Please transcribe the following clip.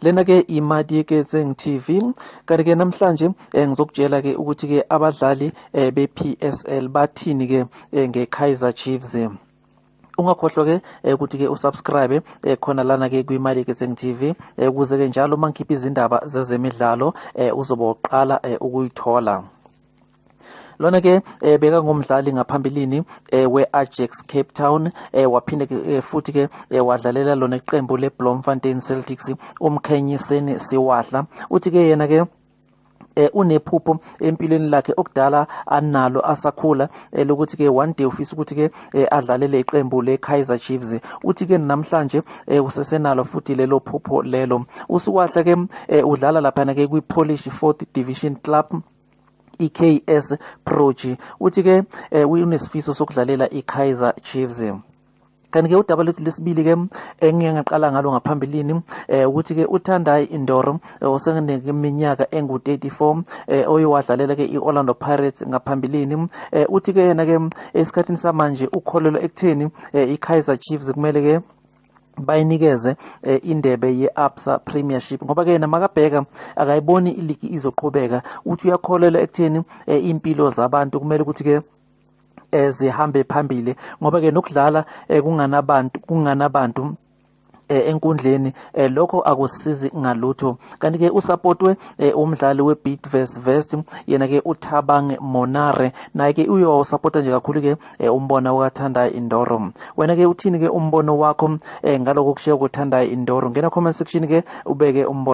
lena ke imadi yeketseng tv kanti ke namhlanje eh, ngizokutshela ke ukuthi ke abadlali eh, be-psl bathini ke eh, nge-kaizer chiefs ungakhohlwa ke eh, ukuthi ke usubscribe eh, khona lana ke kwimali yeketseng tv eh, ukuze ke njalo uma ngikhipha izindaba zezemidlalo uzobe uqala ukuyithola lona ke eh, beka ngomdlali ngaphambilini eh, we-ajax cape town eh, waphinde ke eh, futhi ke eh, wadlalela lona iqembu le-blomfontein celtics umkhenyiseni siwadla uthi ke yena ke eh unephupho empilweni lakhe okudala analo asakhula eh, lokuthi ke one day ufisa ukuthi ke eh, adlalele iqembu le Kaizer Chiefs uthi ke namhlanje eh, usesenalo futhi lelo phupho lelo usuwahle ke eh, udlala lapha ke kwi Polish 4th Division Club iKS Proji uthi ke eh, unesifiso sokudlalela iKaizer Chiefs kanti ke udaba lethu lesibili ke engiye ngaqala ngalo ngaphambilini eh ukuthi ke uThandai Indoro eh, oseneminyaka engu34 eh oyiwadlalela ke iOrlando Pirates ngaphambilini eh uthi ke yena ke esikhathini samanje ukholelwa ekutheni eh, iKaizer Chiefs kumele ke bayinikeze eh, indebe ye-absa premiership ngoba-ke yena makabheka akayiboni iligi izoqhubeka uthi uyakholelwa ekutheni eh, iy'mpilo zabantu kumele ukuthi-ke eh, zihambe phambili ngoba-ke nokudlala eh, kunganabantu kunganabantu Eh, enkundleni eh, lokho akusizi ngalutho kanti ke usupportwe eh, umdlali weBidvest West yena ke uThabang Monare naye ke uyosupporta nje kakhulu ke e, umbona ukathanda indoro wena ke uthini ke umbono wakho e, ngaloko kushiya ukuthandayo indoro ngena comment section ke ubeke umbono